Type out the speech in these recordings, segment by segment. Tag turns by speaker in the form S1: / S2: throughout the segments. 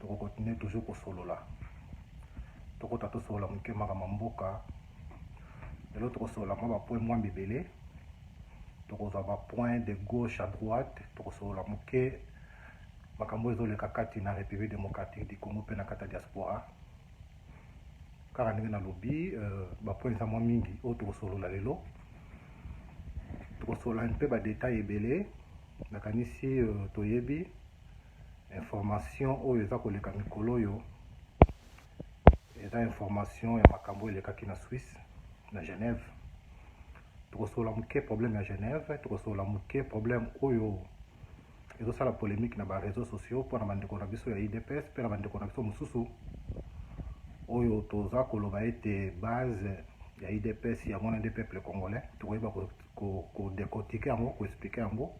S1: toko continuer toujours kosolola tokota tosolola moke makambo ya mboka lelo tokosolola mwa bapoint mwa mibele tokozwa bapoint de gauche à droite tokosolola moke makambo ezoleka kati na république démocratique du congo mpe na kati ya diaspora kaka ndenge nalobi euh, bapoint eza mwa mingi oyo tokosolola lelo tokosolola mpe badetail ebele Nakanisi toyebi information oyo eza koleka mikolo oyo eza information ya makambo elekaki na Suisse na Genève. Tokosola moke problème ya Genève, tokosola moke problème oyo ezosala polemique na ba réseaux sociaux mpo na bandeko na biso ya IDPS mpe na bandeko na biso mosusu oyo toza koloba ete base ya IDPS yango na nde peuple congolais tokoyeba ko decortiquer yango ko expliquer yango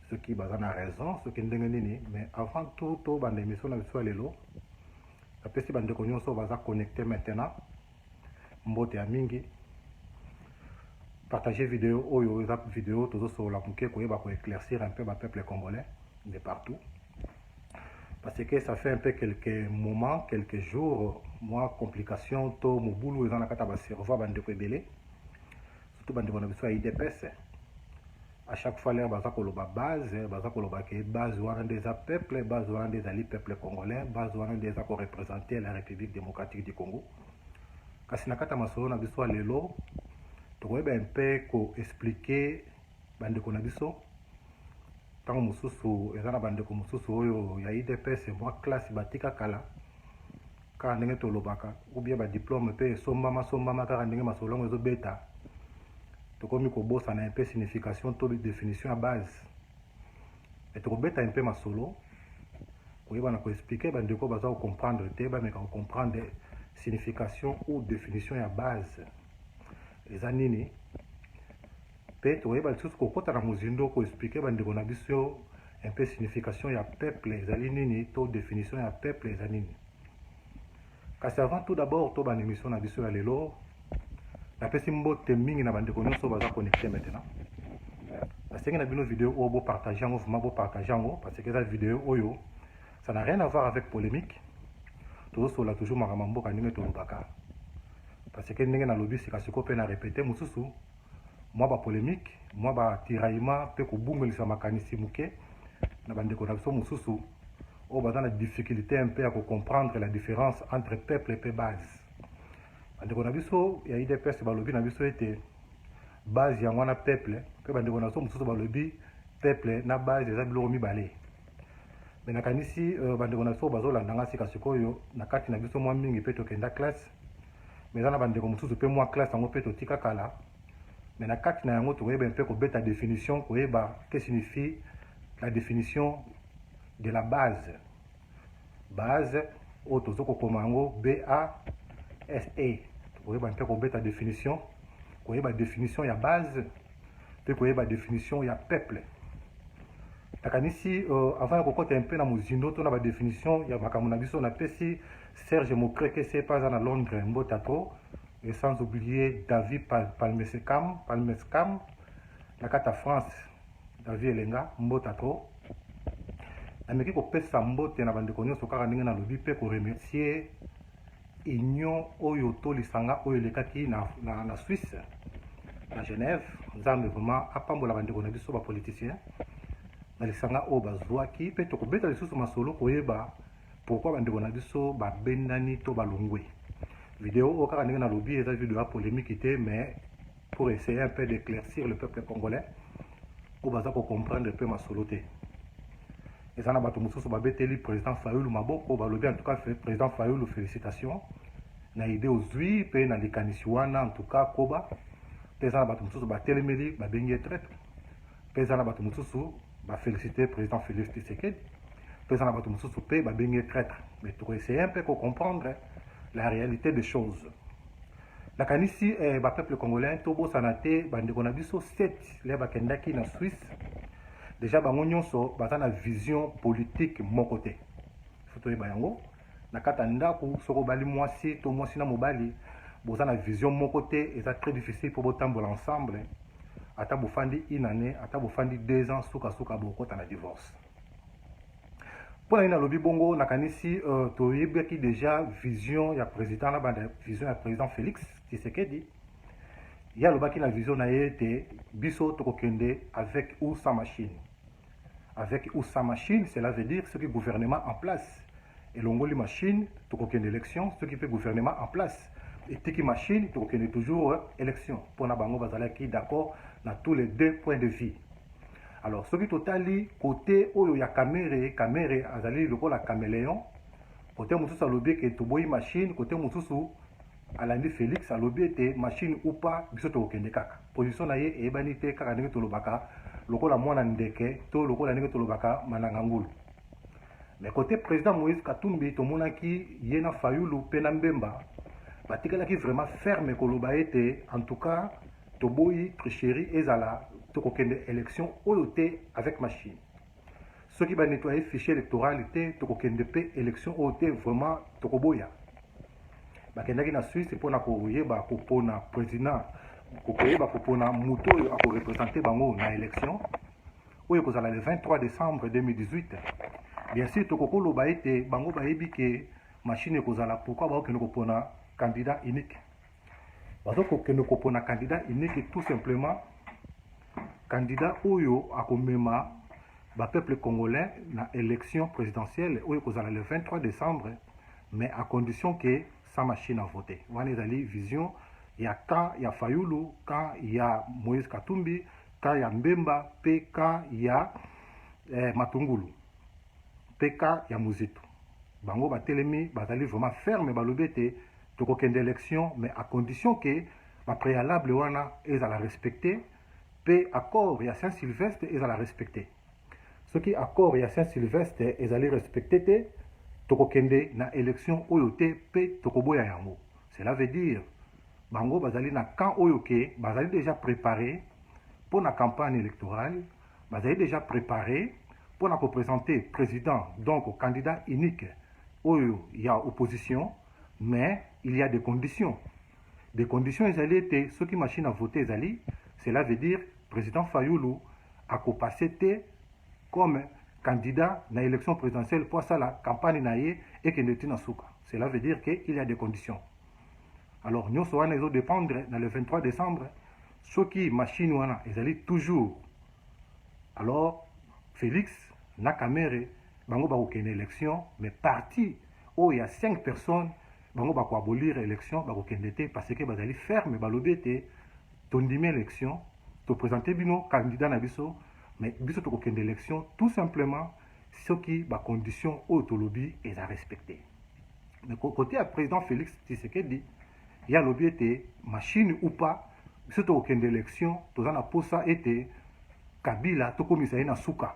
S1: soki baza na raison soki ndenge nini mais avant tout to banda emission na biso ya lelo napesi bandeko nyonso baza connecte maintenant mbote ya mingi partage video oyo eza video tozosolola moke koyeba koéclaircir un peu bapeuple congolais de partout parce que ça fait un peu quelques moments quelques jours mwa complication to mobulu eza na kati ya baservo ya bandeko ebele surtout bandeko na biso ya idps à chaque fois lere baza koloba base baza koloba ke base wana nde eza peuple base wana nde ezali peuple congolais base wana nde eza korepresente la république démocratique du congo kasi na kati ya masolo na biso ya lelo tokoyeba mpe koexplike bandeko na biso ntango mosusu eza na bandeko mosusu oyo ya idps mwa classe batika kala Kaka ndenge tolobaka ou bien ba diplome pe esombama sombama kaka ndenge masolo yango ezo beta tokomi kobosana un peu signification to definition ya base mais tokobeta un peu masolo koyebana ko expliquer ba ndeko baza ko comprendre te ba meka ko comprendre signification ou definition ya base eza nini Mpe tokoyeba lisusu kokota na mozindo koexplike bandeko na biso un peu signification ya peuple ezali nini to definition ya peuple eza nini. Kasi avant tout d'abord tobanda emission na biso ya lelo, napesi mbote mingi na bandeko nyonso baza connecte maintenant. Nasengi na bino video oyo bopartage yango, vraiment bopartage yango parce que eza video oyo ça n'a rien à voir avec polemique tozosola toujours makambo ya mboka ndenge tolobaka parce que ndenge nalobi sika sikoyo mpe na repete mosusu Mwa ba polemiques, mwa ba tiraillements mpe kobungelisa makanisi moke na ba ndeko na biso mosusu oyo baza na difficulte un peu ya ko comprendre la difference entre peuple mpe base. Ba ndeko na biso ya udps balobi na biso ete base yango wana peuple mpe ba ndeko na biso mosusu balobi peuple na base eza biloko mibale. Mais nakanisi euh, ba ndeko na biso bazolanda nga sika sikoyo na kati na biso mwa mingi mpe tokenda classe mais eza na bandeko mosusu mpe mwa classe yango mpe totika kala mais na kati na yango tokoyeba mpe kobeta definition koyeba que signifie la definition de la base base oyo tozo kokoma yango base tokoyeba mpe kobeta definition koyeba definition ya base mpe koyeba definition ya peuple nakanisi uh, avant ya kokota mpe na mozindo to na badefinition ya makambo na biso napesi serge mokreke se mpe aza na londres mbota trop et sans oublier david palmescam palmescam na kati ya france david elenga mbota trop nameki kopesa mbote na bandeko nyonso kaka ndenge nalobi mpe koremercier union oyo to lisanga oyo elekaki na, na, na Suisse na Genève. Nzambe vraiment apambola bandeko na biso bapoliticien na lisanga oyo bazwaki, mpe tokobeta lisusu masolo koyeba pourquoi bandeko na biso babendani to balongwe. Video oyo kaka ndenge nalobi eza video ya polemique te mais pour essayer un peu d'éclaircir le peuple congolais oyo baza kocomprendre mpe masolo te eza na bato mosusu babeteli président fayulu maboko balobi en tout cas président fayulu félicitation na idée ozwi mpe na likanisi wana en tout cas koba mpe eza na bato mosusu batelemeli babengi ye traite mpe eza na bato mosusu bafélicité président félix tshisekedi mpe eza na bato mosusu mpe babengi ye traite mais tokoessaye mpe kocomprendre la réalité des choses Nakanisi eh, ba peuple congolais tobosana te bandeko na biso 7 le bakendaki na Suisse deja bango nyonso baza na vision politique moko te fo toyeba yango na kati ya ndako soko obali mwasi to mwasi na mobali boza na vision moko te eza très difficile mpo botambola ensemble ata bofandi une année ata bofandi deux ans sukasuka bokota na divorce mpo na nini nalobi bongo nakanisi uh, toyebaki deja vision ya président na banda vision ya président félix tshisekedi ye alobaki na vision na ye ete biso tokokende avec ou sans machine avec ou sans machine cela veut dire soki gouvernement en place elongoli machine tokokende election soki mpe gouvernement en place etiki machine tokokende toujours euh, election mpo na bango bazalaki d'accord na tous les deux points de vue alors soki totali kote oyo ya kamere kamere azali lokola cameleon kote mosusu alobi eke toboyi machine kote mosusu alandi félix alobi ete machine upa biso tokokende kaka position na ye eyebani te kaka ndenge tolobaka lokola mwana ndeke to lokola ndenge tolobaka mananga ngulu Mais cote president Moïse Katumbi tomonaki ye na Fayulu pe na Mbemba batikalaki vraiment ferme koloba ete en tout cas toboyi tricherie ezala tokokende election oyo te avec machine soki ba nettoyer fichier electoral te tokokende pe election oyo te vraiment tokoboya bakendaki na Suisse mpo na koyeba kopona president koyeba kopona moto oyo akorepresente bango na election oyo ekozala le 23 decembre 2018 bien sûr tokoki koloba ete bango bayebi ke machine ekozala pourkui bakokende kopona candidat unique bazokokende kopona candidat unique tout simplement candidat oyo akomema bapeuple congolais na élection présidentielle oyo ekozala le 23 décembre mais à condition ke sa machine à voter wana ezali vision ya camp ya fayulu camp ya moïse katumbi cas ya Mbemba pe cas ya eh, Matungulu pe cas ya Muzitu bango batelemi bazali vraiment ferme balobi ete tokokende élection mais à condition que ba préalable wana ezala respecté pe accord ya Saint Sylvestre ezala respecté Soki accord ya Saint Sylvestre ezali respecter te, toko kende na election oyo te pe toko boya yango. Cela veut dire bango bazali na camp oyo ke bazali dejà prepare pona campagne electorale, bazali dejà prepare pona ko presenter president donc candidat unique oyo ya opposition mais il ya des conditions. De condition ezali ete soki machine à voter ezali, cela veut dire président Fayulu ako passer te comme candidat na élection présidentielle mpo asala campagne na ye ekende ti na suka. Cela veut dire que il y a des conditions. Alors nyonso wana ezo dépendre na le 23 décembre soki machine wana ezali toujours alors Félix na Kamerhe bango bakokende élection mais parti oyo ya 5 personnes bango bako abolir election bakokende te parce que bazali ferme balobi ete tondimi election topresente bino candidat na biso mais biso tokokende election tout simplement soki bacondition oyo tolobi eza respecte mais kote ya président félix tshisekedi ye alobi ete machine ou pas biso tokokende election toza na posa ete kabila tokomisa ye na suka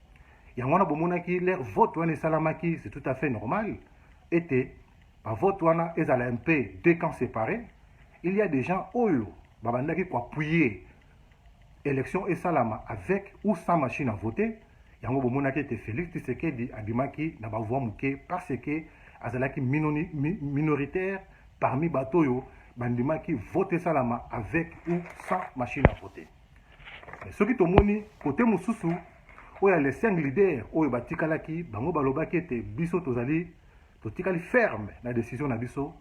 S1: yango wana bomonaki le vote wana esalamaki c'est tout à fait normal ete bavote wana ezala un peu deux camps séparés il y a des gens oyo babandaki koappuye élection esalama avec ou sans machine à voter yango bomonaki ete félix tshisekedi abimaki na bavoi moke parce que azalaki minoni, mi, minoritaire parmi bato oyo bandimaki vote esalama avec ou sans machine à voter Soki tomoni kote mosusu oyo ya les cinq leaders oyo batikalaki, bango balobaki ete biso tozali totikali ferme na decision na biso,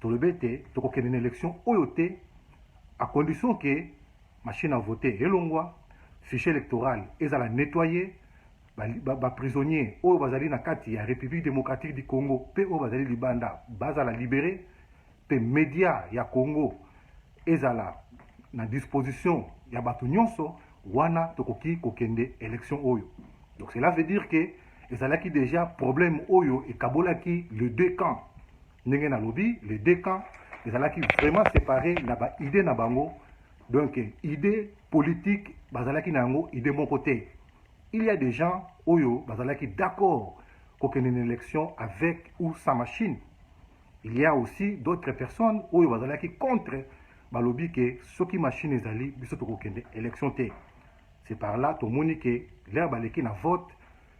S1: tolobi ete tokokende na election oyo te à condition que machine à voter elongwa, fichier électoral ezala nettoyer, baprisonnier ba, ba oyo bazali na kati ya République démocratique du Congo mpe oyo bazali libanda bazala libere Pe media ya Congo ezala na disposition ya bato nyonso, wana tokoki kokende election oyo. Donc cela veut dire que ezalaki deja problème oyo ekabolaki le deux camps. Ndenge nalobi, le deux camps ezalaki vraiment séparé na ba idée na bango. Donc idée politique bazalaki na yango idée moko te. Il y a des gens oyo bazalaki d'accord kokende na election avec ou sans machine. Il ya aussi d'autres personnes oyo bazalaki contre balobi ke soki machine ezali biso tokokende election te c'est par là tomoni ke leur baleki na vote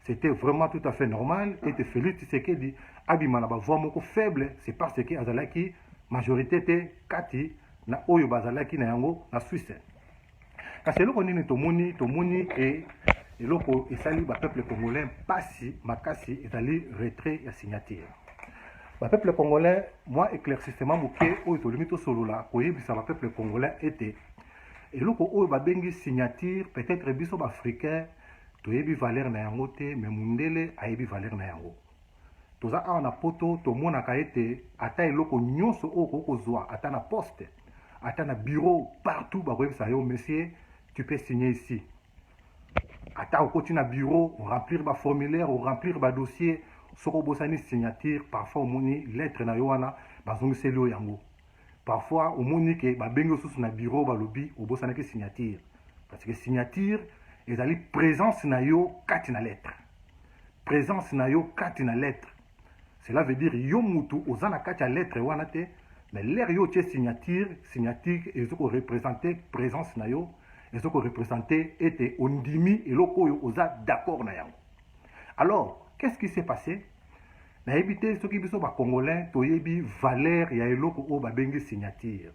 S1: c'était vraiment tout à fait normal ete Félix Tshisekedi abima na bavoix moko faible c'est parce que azalaki majorité te kati na oyo bazalaki na yango na Suisse Kasi eloko nini tomoni tomoni e eloko esali ba peuple congolais mpasi makasi ezali retrait ya signature ba peuple congolais mwa éclaircissement moke oyo tolingi tosolola koyebisa ba peuple congolais ete eloko oyo babengi signature peut-être biso baafricain toyebi valeur na yango te mais mundele ayebi valeur na yango toza awa na poto tomonaka ete ata eloko nyonso oyo okoki kozwa ata na poste ata na bureau partout bakoyebisa yo monsieur tu peux signer ici ata okoti na bureau oremplir baformulaire oremplir badossier soki obosani signature parfois omoni lettre na yo wana bazongiseli yo yango parfois omoni ke babengi osusu na bureau balobi obosanaki signature parce que signature ezali présence na yo kati na lettre presence na yo kati na lettre cela veut dire yo mutu oza na kati ya lettre wana te mais l'air yo otie signature signature ezo ko représenter présence na yo ezo ko représenter ete ondimi eloko oyo oza d'accord na yango alors qu'est-ce qui s'est passé nayebi te soki biso bakongolais toyebi valeur ya eloko oyo babengi signature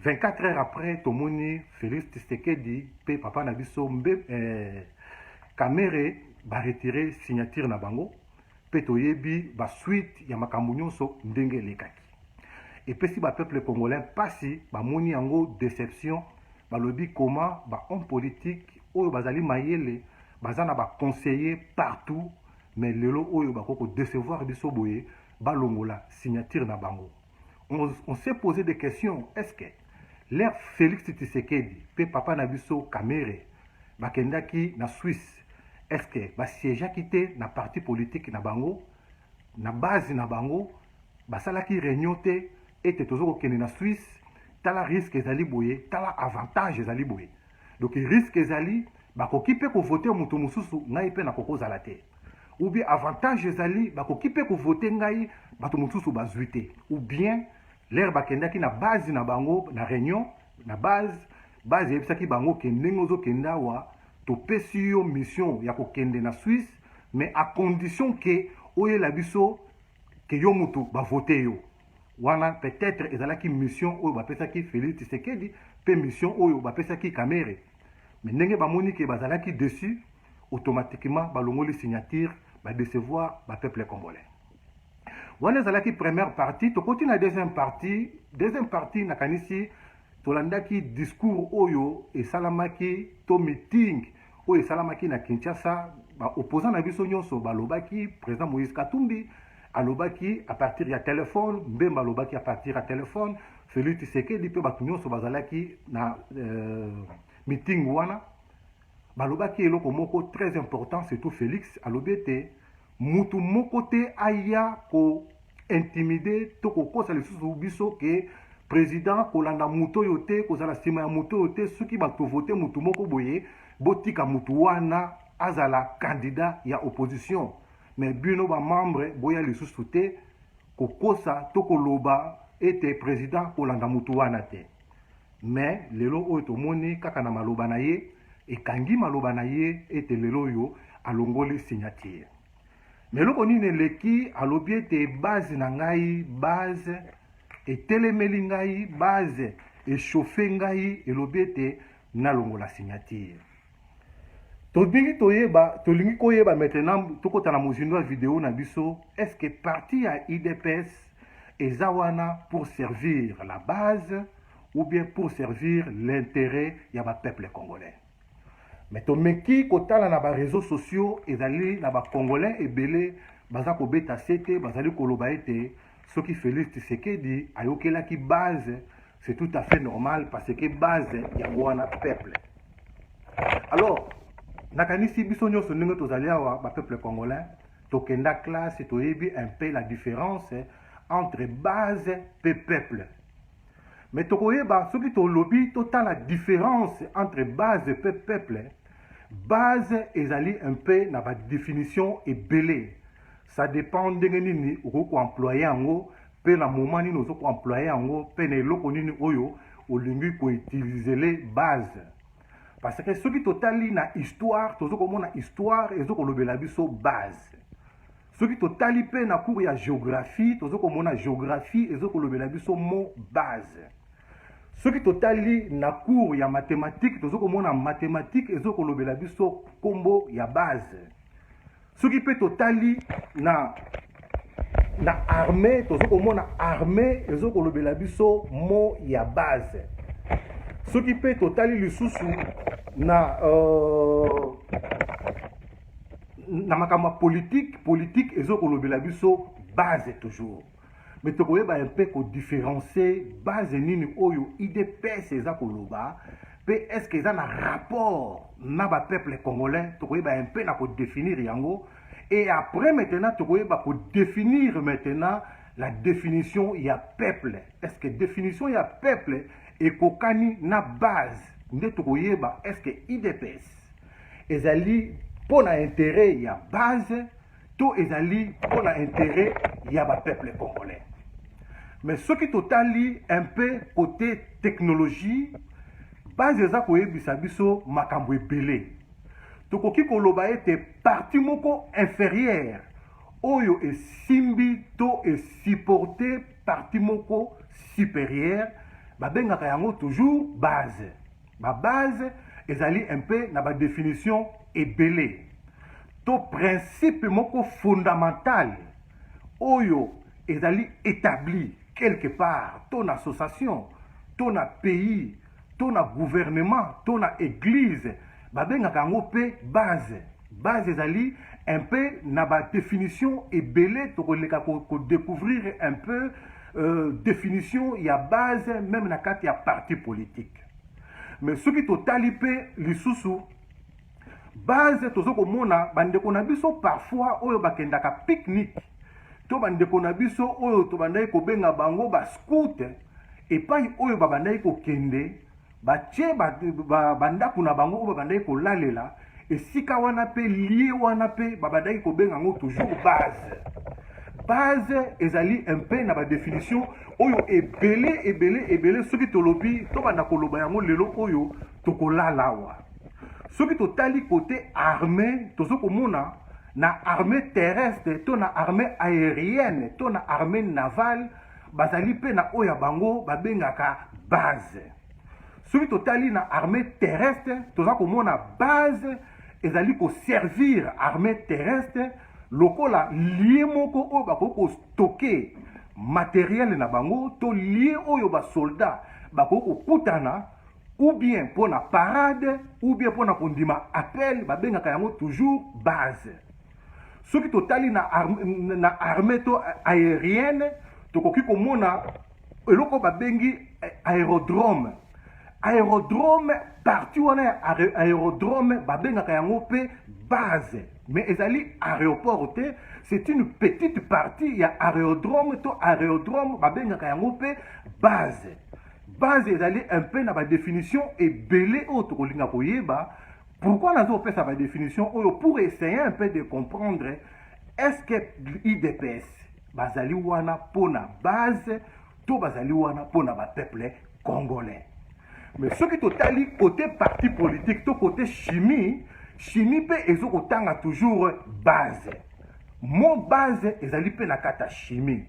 S1: 24 heures après tomoni Felix Tshisekedi pe papa na biso mbe eh, Kamere ba retirer signature na bango pe toyebi ba suite ya makambo nyonso ndenge elekaki epesi ba peuple congolais pasi bamoni yango deception balobi koma ba homme politique oyo bazali mayele baza na ba conseiller partout mais lelo oyo bakoki kodecevoir biso boye balongola signature na bango on, on s'est posé des questions est-ce que leur Félix Tshisekedi pe papa na biso Kamere bakendaki na Suisse est-ce que basiégeaki te na parti politique na bango na base na bango basalaki réunion te ete toza kokende na Suisse tala risque ezali boye tala avantage ezali boye donc risque ezali bakoki mpe kovote moto mosusu ngai mpe nakoki kozala te ou bien avantage ezali bakoki mpe kovote ngai bato mosusu bazwi te ou bien lere bakendaki na base na bango na réunion na base base eyebisaki bango ke ndenge ozokende awa topesi yo mission ya kokende na swisse mais à condition ke oyela biso ke yo motu bavote yo Wana peut etre ezalaki mission oyo bapesaki Felix Tshisekedi pe mission oyo bapesaki Kamere. Mais ndenge bamoni ke bazalaki deçu, automatiquement balongoli signature, ba decevoir ba peuple congolais. Wana ezalaki première partie, tokoti na deuxième partie. Deuxième partie nakanisi tolandaki discours oyo esalamaki to meeting oyo esalamaki na Kinshasa, ba opposants na biso nyonso balobaki président Moïse Katumbi alobaki à partir ya telefone, Mbemba alobaki à partir ya telefone, Felix Tshisekedi mpe bato nyonso bazalaki na euh, meeting wana balobaki eloko moko très important surtout Felix alobi ete mutu moko te aya ko intimide to kokosa lisusu biso ke president kolanda moto oyo te kozala nsima ya moto oyo te soki bakovote motu moko boye botika motu wana azala candidat ya opposition me bino bamembre boya lisusu te kokosa to koloba ete president kolanda motu wana te Mais lelo oyo tomoni kaka na maloba na ye ekangi maloba na ye ete lelo oyo alongoli signature. Mais eloko nini eleki alobi ete base na ngai base etelemeli ngai base echauffe ngai elobi ete nalongola signature. Tolingi toyeba, tolingi koyeba maintenant tokota na mozindo ya video na biso, est-ce que parti ya UDPS eza wana pour servir la base ou bien pour servir l'interet ya ba peuple congolais? Mais tomeki kotala na ba réseaux sociaux ezali na ba congolais ebele baza kobeta sete bazali koloba ete soki Felix Tshisekedi ayokelaki base c'est tout à fait normal parce que base yango wana peuple alors nakanisi biso nyonso ndenge tozali awa bapeuple congolais tokenda classe toyebi un peu la différence entre base mpe peuple mais tokoyeba soki tolobi totala différence entre base mpe peuple base ezali un peu na badefinition ebele Ça depend ndenge nini okoki ko employer yango pe na moment nini ozo ko employer yango pe na eloko nini oyo olingi ko utiliser le base. Parce que soki totali na histoire tozo komona histoire ezo kolobela biso base. Soki totali pe na cours ya géographie tozo komona géographie ezo kolobela biso mot base. soki totali na cour ya mathématique tozo komona mathématique ezo kolobela biso nkombo ya base soki mpe totali na na armée tozo komona armée ezo kolobela biso mo ya base soki mpe totali lisusu na euh, na makambo ya politike politike ezo kolobela biso base toujours mais tokoyeba un peu ko différencier base nini oyo idps eza koloba pe est ce que eza na rapport na ba peuple congolais tokoyeba un peu na ko définir yango et après maintenant tokoyeba ko définir maintenant la définition ya peuple est ce que définition ya peuple ekokani na base nde tokoyeba est ce que idps ezali mpo na intérêt ya base to ezali mpo na interet ya ba peuple congolais mais soki totali un peu côté technologie base eza koyebisa biso makambo ebele tokoki koloba ete parti moko inférieure oyo esimbi to esupporte parti moko supérieure babengaka yango toujours base Ba base ezali un peu na ba definition ebele to principe moko fondamental oyo ezali etabli quelque part to na association to na pays to na gouvernement to na eglise babengaka yango mpe base base ezali un peu na ba definition ebele tokoleka kodecouvrir ko un peu euh, definition ya base meme na kati ya parti politique Mais soki totali mpe lisusu base tozo komona bandeko na biso parfois oyo bakendaka pique-nique to bandeko na biso oyo tobandaki kobenga bango bascoute epai oyo babandaki kokende batie bandako ba, ba na bango oyo babandaki kolalela esika wana mpe lie wana mpe babandaki kobenga yango toujours base base ezali mpe na badefinition oyo ebele ebele ebele soki tolobi tobanda koloba yango lelo oyo tokolala awa soki totali kote armée tozo komona na armée terrestre to na armée aérienne to na armée navale bazali mpe na oyo ya bango babengaka base soki totali na armée terrestre toza komona base ezali koservir armée terrestre lokola lie moko oyo bakoki kostoke materiele na bango to lie oyo basoldat bakoki kokutana ou bien mpo na parade ou bien mpo na kondima appel babengaka yango toujours base soki totali na, arme, na armée to aérienne tokoki komona eloko babengi eh, aérodrome aérodrome parti wana ya aérodrome babengaka yango mpe base mais ezali aéroport te c'est une petite partie ya aérodrome to aérodrome babengaka yango mpe base base ezali un peu na badéfinition ebele oyo tokolinga koyeba pourquoi nazopesa badéfinition oyo pour essayer un peu de comprendre est ce que idps bazali wana mpo na base to bazali wana mpo na bapeuple congolais mais soki totali kote parti politique to kote chimie chimie mpe ezo kotanga toujours base mo base ezali mpe na kata chimie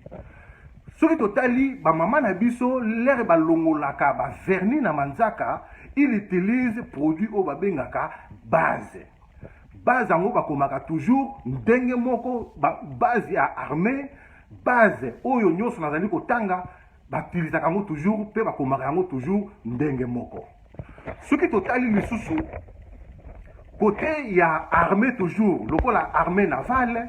S1: soki totali bamama na biso lere balongolaka baverni na manzaka il utilise produit oyo babengaka base base yango bakomaka toujours ndenge moko base ya armée base oyo nyonso nazali kotanga batilisaka yango toujours mpe bakomaka yango toujours ndenge moko soki totali lisusu kote ya armée toujours lokola armée navale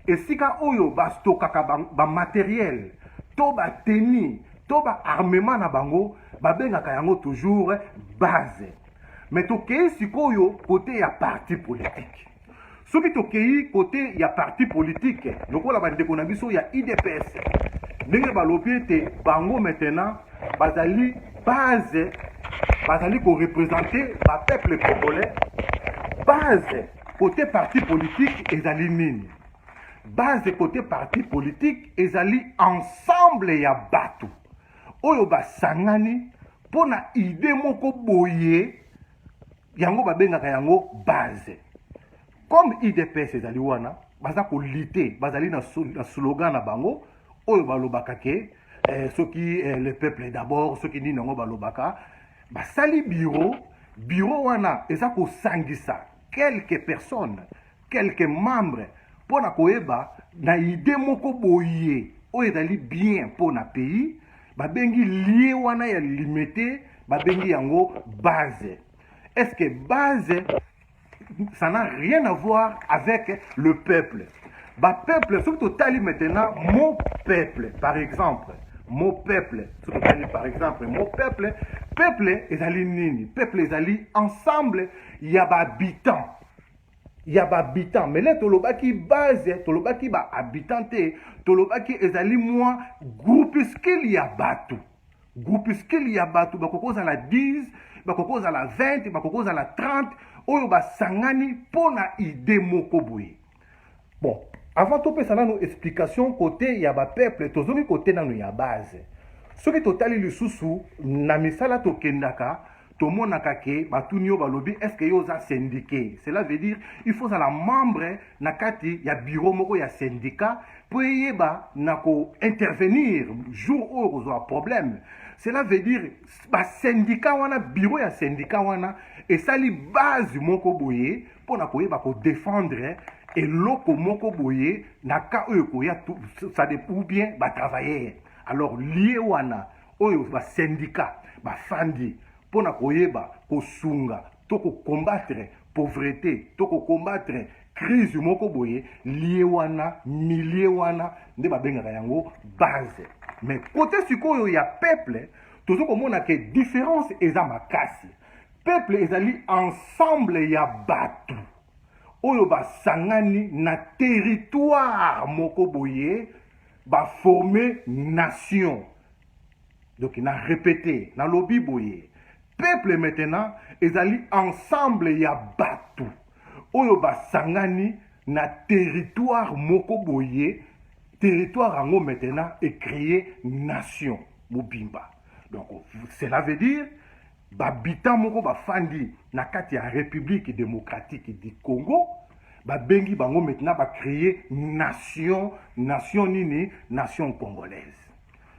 S1: esika oyo bastokaka bamateriel ba to bateni to baarmement na bango babengaka yango toujours base Mais tokei sikoyo kote ya parti politique soki tokei kote ya parti politique lokola bandeko na biso ya idps ndenge balobi ete bango maintenant bazali base bazali korepresente bapeuple congolais base kote parti politique ezali nini base kote parti politique ezali ensemble ya bato oyo basangani mpo na ide moko boye yango babengaka yango base comme idps ezali wana baza kolite bazali na slogan na bango oyo balobaka ke eh, soki eh, le peuple d'abord soki nini yango balobaka basali biro biro wana eza kosangisa quelques personnes quelques membres mpo na koyeba na idee moko boye oyo ezali bien mpo na pays babengi lie wana ya limete babengi yango base est ce que base ça n'a rien à voir avec le peuple bapeuple soki totali maintenant mon peuple par exemple mo peuple soki otali par exemple mo peuple peuple ezali nini peuple ezali ensemble ya bahabitant ya ba habitants mais là tolobaki base tolobaki ba habitants te tolobaki ezali mwa groupuscule ya bato groupuscule ya bato bakoki kozala 10 bakoki kozala 20 bakoki kozala 30 oyo basangani mpo na ide moko boye bon avant topesa nanu explication kote ya bapeuple tozongi kote nanu ya base soki totali lisusu na misala tokendaka tomonaka ke batuni yo balobi est ce que yo oza syndiqué cela veut dire il faut ozala membre na kati ya bureau moko ya syndicat mpo eyeba na kointervenir jour oyo okozwa problème cela veut dire basyndicat wana bureau ya syndicat wana esali base moko boye mpo na koyeba kodefendre eloko moko boye na cas oyo ekoya ça ou bien batravailleur alors lie wana oyo ba sendika bafandi mpo na koyeba kosunga to kokombatre pauvrete to kokombatre crise moko boye lie wana milie wana nde babengaka yango base mais kote sikoyo ya peuple tozo komona ke différence eza makasi peuple ezali ensemble ya bato oyo basangani na territoire moko boye ba forme nation donc na repete nalobi boye peuple maintenant ezali ensemble ya bato oyo basangani na territoire moko boye territoire yango maintenant ecreye nation mobimba donc cela veut dire Babita moko bafandi na kati ya Republique democratique du Congo babengi bango maintenant ba créer nation nation nini nation congolaise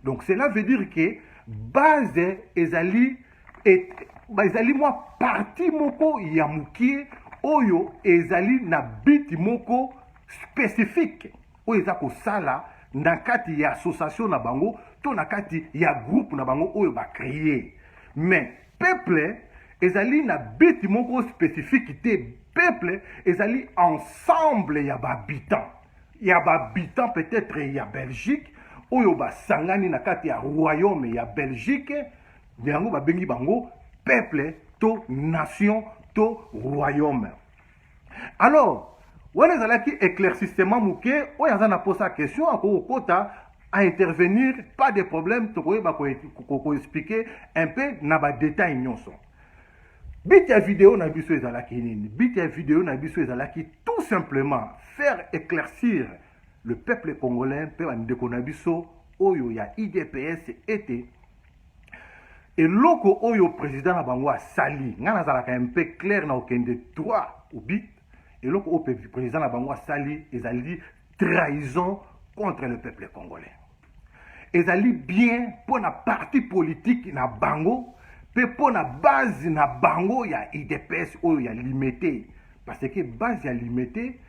S1: donc cela veut dire que base ezali et, ezali mwa parti moko ya mokie oyo ezali na biti moko spécifique oyo eza kosala na kati ya association na bango to na kati ya groupe na bango oyo ba créer mais peuple ezali na but moko spécifique te peuple ezali ensemble ya ba habitants ya ba habitants peut-être ya Belgique oyo basangani na kati ya royaume ya Belgique yango babengi bango peuple to nation to royaume alors wana ezalaki éclaircissement moke oyo aza na posa question akoki kokota à intervenir pas de problème tokoyeba koexplike un peu na badetail nyonso bit ya video na biso ezalaki nini bit ya video na biso ezalaki tout simplement faire éclaircir le peuple congolais mpe bandeko na biso oyo ya idps ete eloko oyo président na bango asali ngai nazalaka un peu clair na okende droit au but eloko oyo président na bango asali ezali trahison contre le peuple congolais ezali bien mpo na parti politiki na bango mpe mpo na base na bango ya idps oyo ya limete parce que base ya limete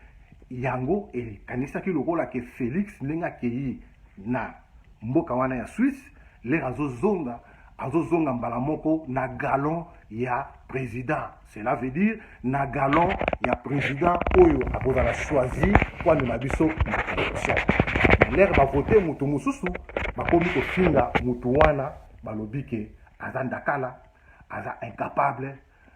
S1: yango ekanisaki lokola ke felix ndenge akei na mboka wana ya swisse lere azozonga azozonga mbala moko na galon ya president Cela veut dire na galon ya president oyo akozala choisi mpo amema biso na election. Lere bavote moto mosusu bakomi kofinga moto wana, balobi ke aza ndakala, aza incapable,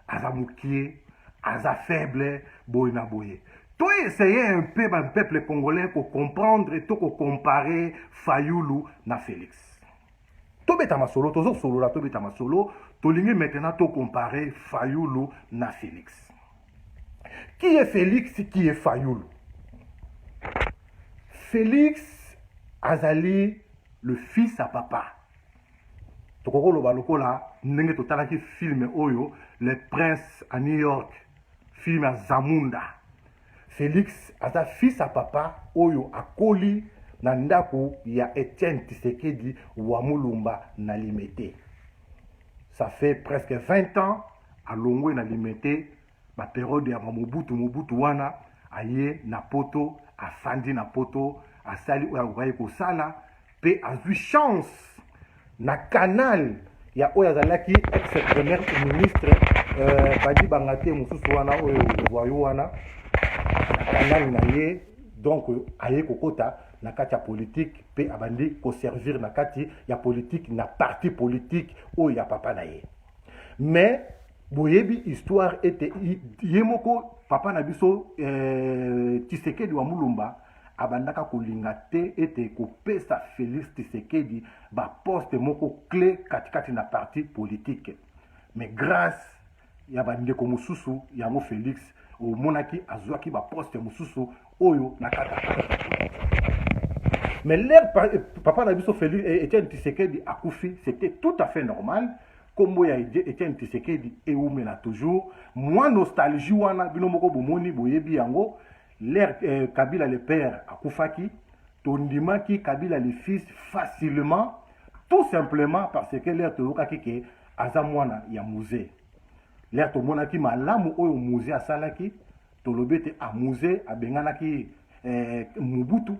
S1: aza mokie, aza faible, boye na boye. To essayer un peu ba peuple congolais ko comprendre to ko comparer Fayulu na Felix. tobeta masolo tozosolola tobeta masolo tolingi maintenant tocompare fayulu na félix qui est félix qui est fayulu félix azali le fils à papa tokoki koloba lokola ndenge totalaki filme oyo le prince à new york filme ya zamunda Felix aza fils à papa oyo akoli na ndako ya Etienne Tshisekedi wa Mulumba na Limete. Ça fait presque 20 ans alongwe na Limete ba periode ya Mobutu Mobutu wana aye na poto afandi na poto asali oyo akokaki kosala Pe azui chance na canal ya oyo azalaki ex premier ministre euh, badi banga te mosusu wana oyo voyou wana na kanani na ye donc aye kokota na kati ya politike mpe abandi koservir na kati ya politike na parti politike oyo ya papa na ye mais boyebi histoire ete ye moko papa na biso eh, tisekedi wa mulumba abandaka kolinga te ete kopesa Felix Tshisekedi ba poste moko cle katikati na parti politique mais grâce ya bandeko mosusu yango Felix omonaki azwaki ba poste mosusu oyo na kata mais leur papa na biso Felix eh, Etienne Tshisekedi akufi c'était tout à fait normal kombo ya Etienne Tshisekedi eumela toujours mwa nostalgie wana bino moko bomoni boyebi yango Leur eh, Kabila le père akufaki, tondimaki Kabila le fils facilement tout simplement parce que leur toyokaki ke aza mwana ya muze. Leur tomonaki malamu oyo muze asalaki, tolobi ete a ah, muze abenganaki eh, Mobutu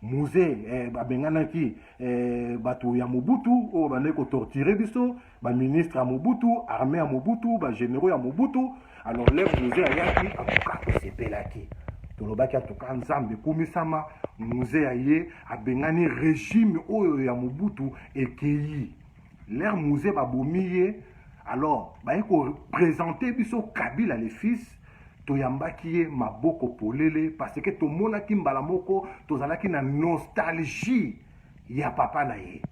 S1: muze eh, babenganaki eh, bato ya mobutu oyo oh, bandaki kotorture biso baministre ya mobutu armée ya mobutu bagénéraux ya mobutu alors lef muze ayaki atuka tosepelaki tolobaki atuka nzambe ekumisama muze ya ye abengani régime oyo ya mobutu ekeyi lere muze babomi ye alors baye kopresente biso kabila le fils toyambaki ye maboko polele parce que tomonaki mbala moko tozalaki na nostalgie ya papa na ye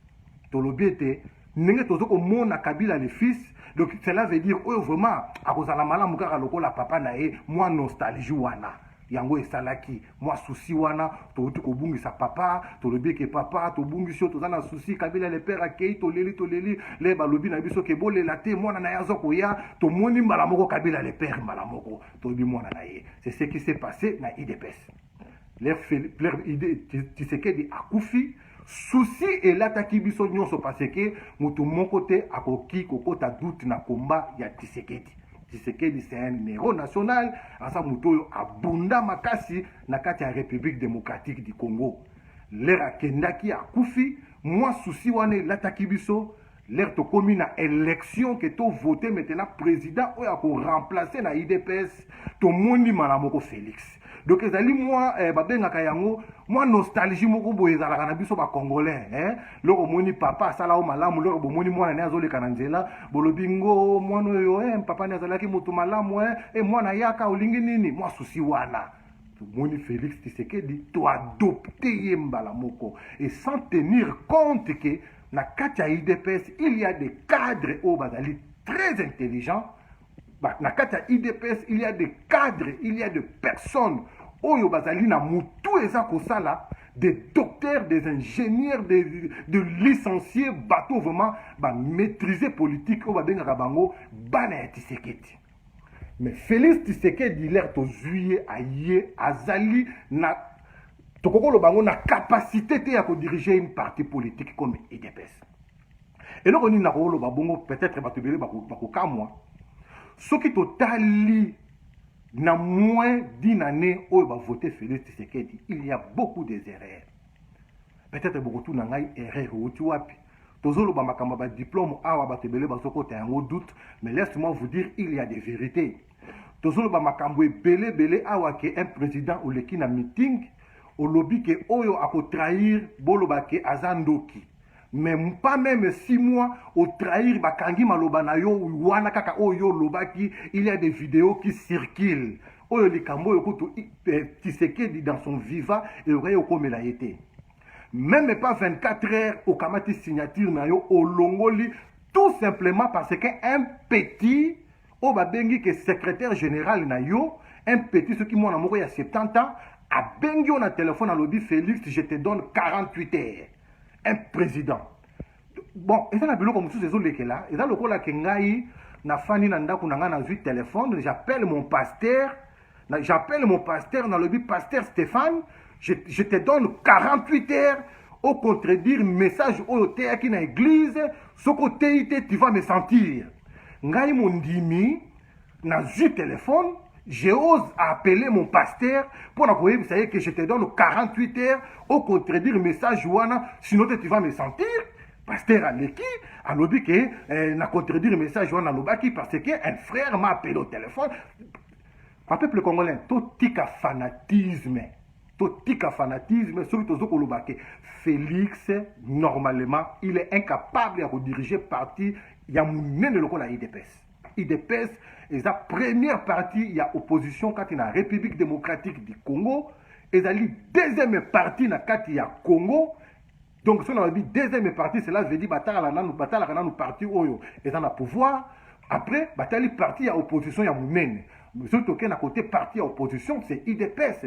S1: tolobi ete ndenge tozo komona kabila le fils donc cela veut dire oyo vraiment akozala malamu kaka lokola papa na ye mwa nostalgie wana yango esalaki mwa souci wana towuti kobungisa papa tolobi eke papa tobungisi yo toza na souci kabila le père akei toleli toleli le balobi na biso ke bolela te mwana na ye aza koya tomoni mbala moko kabila le père mbala moko toyebi mwana na ye c'est ce qui s'est passé na idps le tshisekedi akufi Souci elataki biso nyonso parce que mutu moko te akoki kokota doute na combat ya Tshisekedi. Tshisekedi c'est un héros national, aza mutu oyo abunda makasi na kati ya République démocratique du Congo. Lera akendaki akufi, mwa souci wana elataki biso Lere tokomi na election ke to vote maintenant president oyo ako remplacer na idps tomoni mala moko Felix donc ezali mwa eh, babengaka yango mwa nostalgie moko boye ezalaka na biso bacongolais eh? loko omoni papa asala o malamu loko bomoni mwana ne azoleka na nzela bolobi ngo mwana oyo eh, papa ne azalaki moto malamu eh? eh, mwana yaka olingi nini mwa susi wana tomoni félix tisekedi toadopte ye mbala moko et sans tenir compte ke na kati ya udps il y a des cadres oyo bazali très intelligent na kati ya udps il y a des cadres il y a de personnes oyo bazali na motu eza kosala des docteurs des ingénieurs des, de licenciés bato vraiment bamaîtrise politique oyo babengaka bango bana ya tiseketi Mais Felix Tshisekedi l'air tozui ye aye azali na tokoki koloba yango na capacité te ya kodirige une partie politique comme idps eloko nini nakoloba bongo peut-être bato ebele bakokamwa soki totali na moins d'une année oyo bavote félix tshisekedi il y a beaucoup des erreurs peut-être bokotuna ngai erreur euti wapi Tozoloba makambo ya ba diplome awa bato ebele bazokota yango doute mais laisse moi vous dire il y a des verites tozoloba makambo ebele ebele awa ke un président oleki na meeting olobi ke oyo akotrahir boloba ke aza ndoki mais pas même six mois otrahir bakangi maloba na yo wana kaka oyo yo olobaki il y a des vidéos qui circulent oyo likambo oyo kutu eh, tisekedi dans son viva eyokaki okomela ye te meme pas 24 heures okamati signature na yo olongoli tout simplement parce que un petit oyo babengi ke secrétaire général na yo un petit soki mwana moko ya 70 ans abengi yo na telefone alobi félix je te donne 48 heures un président bon eza na biloko mosusu ezolekela eza lokola ke ngai nafandi na ndako na ngai nazwi telefone j'appelle mon pasteur j'appelle mon pasteur nalobi pasteur stéphane je, je te donne 48 heures ocontredire message oyo oteyaki na eglize soki oteyi te tu vas me sentir ngai mondimi nazwi telefone J'ose appeler mon pasteur pour la ça que je te donne 48 heures au contredire message wana sinon tu vas me sentir pasteur aleki alobi ke eh, na contredire message wana alobaki parce que un frère m'a appelé au téléphone ba peuple congolais totika fanatisme totika fanatisme soki tozo koloba ke félix normalement il est incapable ya kodirige parti ya monene lokola idps Udps eza première partie ya opposition kati na République démocratique du Congo, ezali deuxième partie na kati ya Congo. Donc soki nalobi deuxième partie, cela veut dire batalaka nanu batalaka nanu partie oyo eza na pouvoir. Après batali partie ya opposition ya monene. Soki tokei na kote partie ya opposition, c'est udps.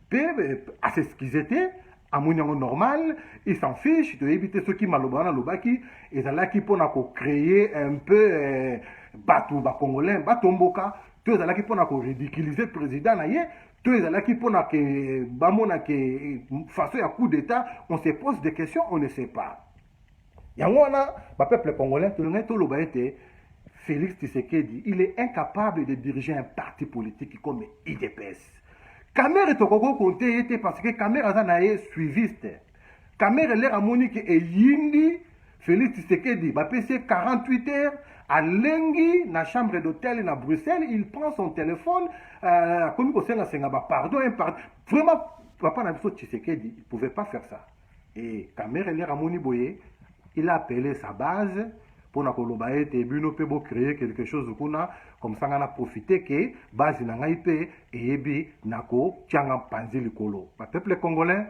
S1: te a s'excuse te amoni yango normal il s'en fiche toyebi te soki maloba wana alobaki ezalaki mpona kocreye un peu eh, bato bacongolais batomboka to ezalaki mpona koridiculize président na ye to ezalaki mpona ke bamona ke façon ya coup d'état on se pose des questions on ne sait pas yango wana ba peuple congolais tolingaki toloba ete Félix Tshisekedi, il est incapable de diriger un parti politique comme IDPS. Kamere tokoko konte ye te parce que Kamere aza na ye suiviste. Kamere lere amoni ke eyindi Félix Tshisekedi bapesi ye 48 heures alengi na chambre d'hôtel na Bruxelles, il prend son téléphone euh, akomi kosenga senga ba pardon un pardon. Vraiment papa na biso Tshisekedi, il pouvait pas faire ça. Et Kamere lere amoni boye, il a appelé sa base mpo na koloba ete bino mpe bo créer quelque chose kuna, comme ça ngai na profiter que base na ngai mpe eyebi na kotia nga mpanzi likolo. Ba peuple congolais,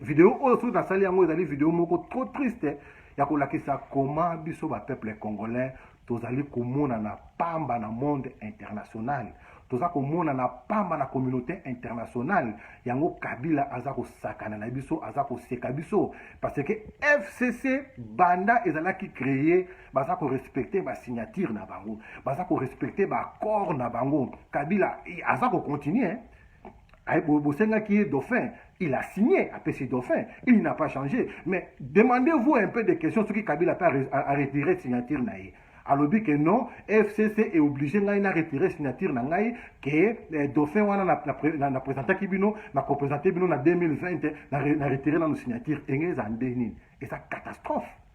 S1: video oyo soki nasali yango ezali video moko trop triste ya kolakisa koma biso ba peuple congolais tozali komonana pamba na monde international toza komonana pamba na communauté internationale yango kabila aza kosakana na biso aza koseka biso parce que fcc banda ezalaki créer baza korespecte basignature na bango baza korespecte baaccord na bango kabila aza kocontinue bosengaki ye dauphin il a signé apesi dauphin il n'a pas changé mais demandez-vous un peu de questions soki kabila mpe aretire signature na ye alobi ke non fcc est obligé ngai na retire signature na ngai ke eh, dauphin wana na, na, na, na présentaki bino na kopresente bino na 2020 na, na retire nano signature enge eza nde nini eza catastrophe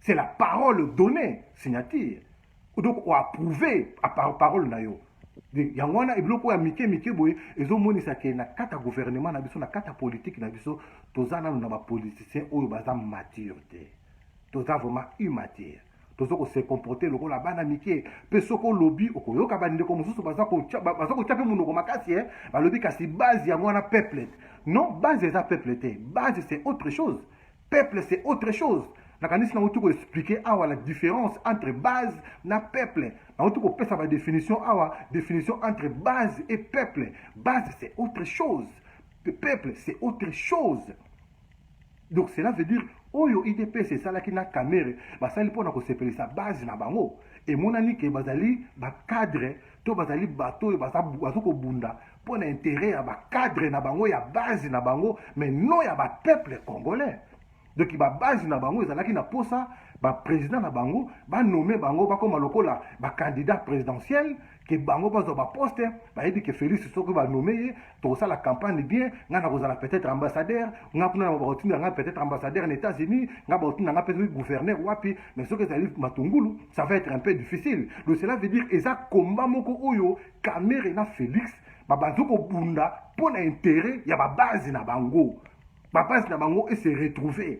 S1: c'est la parole donnée signature donc oapprouve parole na yo yango wana ebiloko ya mike mike boye ezomonisa ke na kati ya gouvernement na biso na kati ya politike na biso toza nano na bapoliticien oyo baza mature te toza vraiment immature toza kose comporte lokola bana mike mpe soki olobi okoyoka bandeko mosusu baza kotya mpe monoko makasi e balobi kasi base yango wana peuple non base eza peuple te base c'est autre chose Peuple c'est autre chose. nakanisi nauti koexplike awa la différence entre base na peuple nauti kopesa badefinition awa définition entre base et peuple base c'est autre chose peuple c'est autre chose donc cela veut dire oyo idps esalaki na kamere basali mpo na kosepelisa base na bango emonani ke bazali bacadre to bazali bato oyo bazokobunda mpo na interet ya bacadre na bango ya base na bango mais non ya bapeuple congolais donc babase na bango ezalaki na mposa baprésident na bango banome bango bakóma lokola bacandidat présidentiel ke bango bazwa baposte bayebi ke félix soki banome ye tokosala campagne bien ngai nakozala peut-être ambassadeur ngai kuna yango bakotinda ngai peut-être ambassadeur na états-unis ngai bakotinda ngai peut-être gouverneur wapi mais soki ezali matungulu ça va être un peu difficile donc cela veut dire eza combat moko oyo Kamere na Felix babanzo kobunda mpo na intere ya babazi na bango. Babazi na bango ese retrouve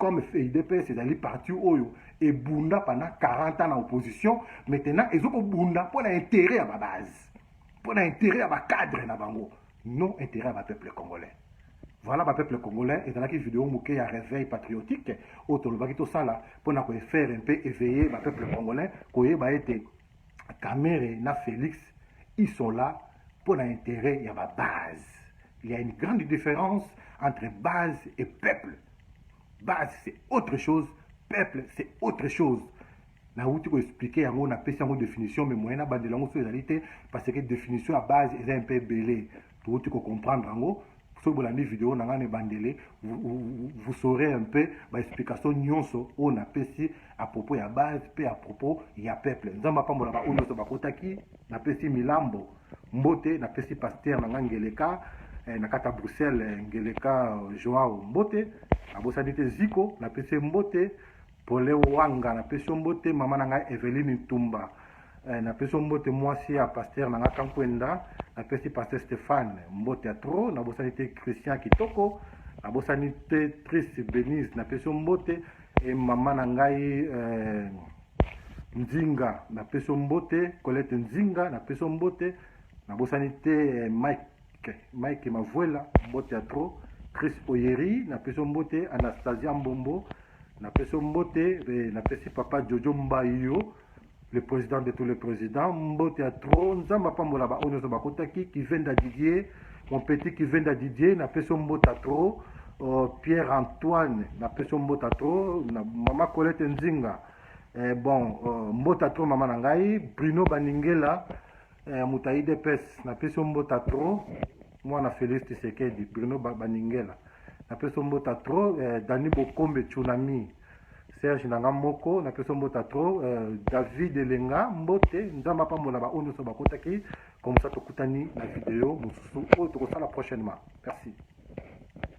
S1: comme idps ezali parti oyo ebunda pendant 40 ans na opposition maintenant ezo kobunda mpo na intere ya babazi mpo na intere ya bacadre na bango non intere ya bapeuple congolais voilà bapeuple congolais ezalaki video moke ya réveil patriotique oyo tolobaki tosala mpo na koefere mpe eveille bapeuple congolais koyeba ete Kamere na Felix ils sont là pour na intérêt ya ba base. Il y a une grande différence entre base et peuple. Base c'est autre chose, peuple c'est autre chose. Na wuti ko expliquer yango na pesi yango définition mais moyen na bandela yango so ezali te parce que définition ya base eza un peu belé. Towuti ko comprendre yango soki bolandi video na ngai na ebandele vous saurez un peu baexplication nyonso oyo napesi à propos ya base mpe à propos ya peuple nzambe apambola baoyo nyonso bakotaki napesi milambo mbote napesi paster na ngai ngeleka eh, na kata bruxelles eh, ngeleka eh, joao mbote abosani te ziko napesi mbote Pole Wanga, na pesi yo mbote mama na ngai Eveline Ntumba. Eh, na pesi yo mbote mwasi ya pasteur na ngai Kankwenda, na pesi pasteur Stéphane mbote ya trop, na bosani te Christian Kitoko, na bosani te Triste Benise, na pesi yo mbote e mama na ngai eh, Nzinga, na pesi yo mbote Colette Nzinga, na pesi yo mbote, na bosani te eh, Mike Okay. Mike Mavuela, mbote ya trop. Chris Oyeri, na peso mbote. Anastasia Mbombo, na peso mbote. Eh, na pesi papa Jojo Mbayo, le président de tous les présidents. Mbote ya trop. Nzamba pambola ba onyoso bakotaki. Kivenda Didier, mon petit Kivenda Didier, na peso mbote ya trop. Uh, Pierre Antoine, na peso mbote ya trop. Na mama Colette Nzinga. Eh, bon, uh, mbote ya trop mama na ngai. Bruno Baningela, eh, moto ya idps napesi yo mbota trop mwana félix tisekedi bruno baningela napesi yo mbota trop eh, dani bokombe tsunami serge na nga moko napesi yo mbota trop eh, david elenga mbote nzambe apambola baoyo nyonso bakotaki komsa tokutani na video mosusu oyo tokosala prochainement merci